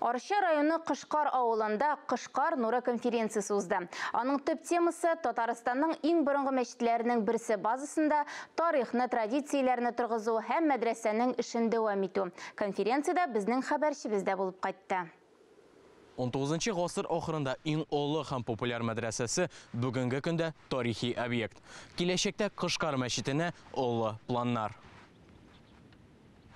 Арча районы Кышкар авылында Кышкар нуры конференциясе узды. Аның төп темасы Татарстанның иң борынгы мәчетләренең берсе базасында тарихны, традицияләрне торгызу һәм мәдрәсәнең эшен дәвам итү. Конференциядә безнең хәбәрчебез дә булып кайтты. Унтугызынчы гасыр ахырында иң олы һәм популяр мәдрәсәсе бүгенге көндә тарихи объект. Киләчәктә Кышкар мәчетенә олы планнар.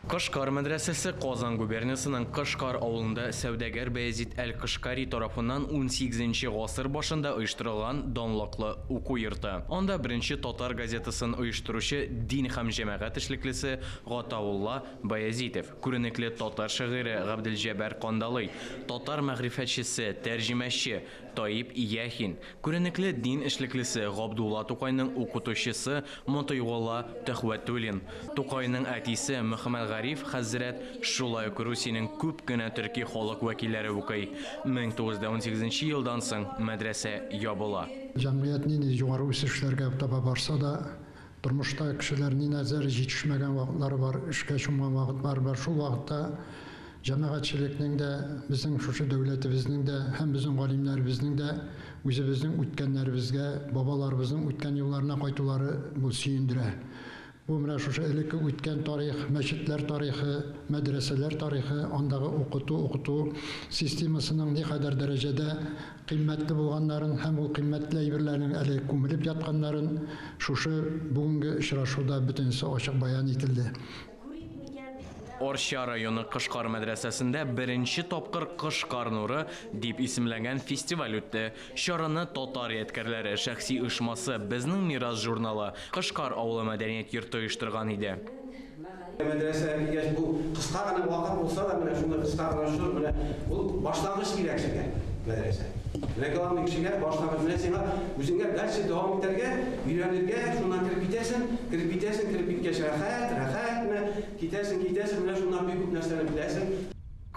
Кашкар мәдрәсәсе Казан губерниясенең Кашкар авылында сәүдәгәр Баязит әл-Кашкари тарафыннан унсигезенче гасыр башында оештырылган данлыклы уку йорты. Анда беренче татар газетасын оештыручы дин һәм җәмәгать эшлеклесе Гатаулла Баязитов, күренекле татар шагыйре Габделҗәбар Кандалый, татар мәгърифәтчесе, тәрҗемәче, Таип Яхин, күренекле дин эшлеклесе Габдулла Тукайның укытучысы Мотыйголла Төхвәтуллин, Тукайның әтисе Мөхәммәтгариф хәзрәт, шулай ук Русиянең күп кенә төрки халык вәкилләре укый. 1918 елдан соң мәдрәсә ябыла. Җәмгыять нинди югары үсешләргә таба барса да, Тормышта кешеләр ниназдер җитешмәгән вакытлары бар, эшкә чумган вакытлары бар. Шул вакытта җәмәгатьчелекнең дә, безнең шушы дәүләтебезнең дә һәм безнең галимнәребезнең дә үзебезнең үткәннәребезгә, бабаларыбызның үткән юлларына кайтулары бу сөендерә. Бу менә шушы элекке үткән тарих, мәчетләр тарихы, мәдрәсәләр тарихы, андагы укыту, укыту системасының никадәр дәрәҗәдә Кыйммәтле булганнарын һәм ул кыйммәтле әйберләрнең әле күмелеп ятканнарын шушы бүгенге очрашуда бөтенесе ачык бәян ителде. Арча районы Кышкар мәдрәсәсендә беренче тапкыр Кышкар нуры дип исемләнгән фестиваль үтте. Чараны Татар ядкәрләре шәхси оешмасы, Безнең мирас журналы, Кышкар авылы мәдәният йорты оештырган иде. Мәдрәсәгә килгәч, бу кыска гына вакыт булса да, менә шундый кыска гына чор, менә бу башлангыч кирәк сезгә, мәдрәсә. Менә главный кешегә башлангыч, менә сиңа үзеңә дальше дәвам итәргә, өйрәнергә, шуннан кереп китәсең, кереп китәсең, кереп киткәч рәхәт, рәхәт менә китәсең, китәсең, менә шуннан бик күп нәрсәне беләсең.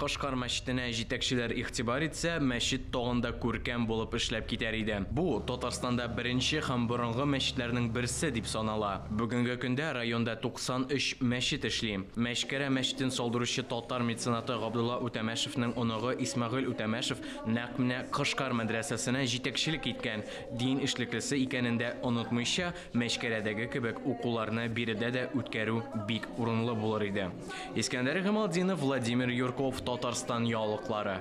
Кашкар мәчетенә җитәкчеләр игътибар итсә, мәчет тагын да күркәм булып эшләп китәр иде. Бу, Татарстанда беренче һәм борынгы мәчетләрнең берсе дип санала. Бүгенге көндә районда 93 мәчет эшли. Мәчкәрә мәчетен салдыручы татар меценаты Габдулла Үтәмәшевнең оныгы Исмәгыйль Үтәмәшев нәкъ менә Кашкар мәдрәсәсенә җитәкчелек иткән дин эшлеклесе икәнен дә онытмыйча, Мәчкәләдәге кебек укуларны биредә дә үткәрү бик урынлы булыр иде. Искәндәр Гамалдинов, Владимир Юрков, Татарстан яулыклары.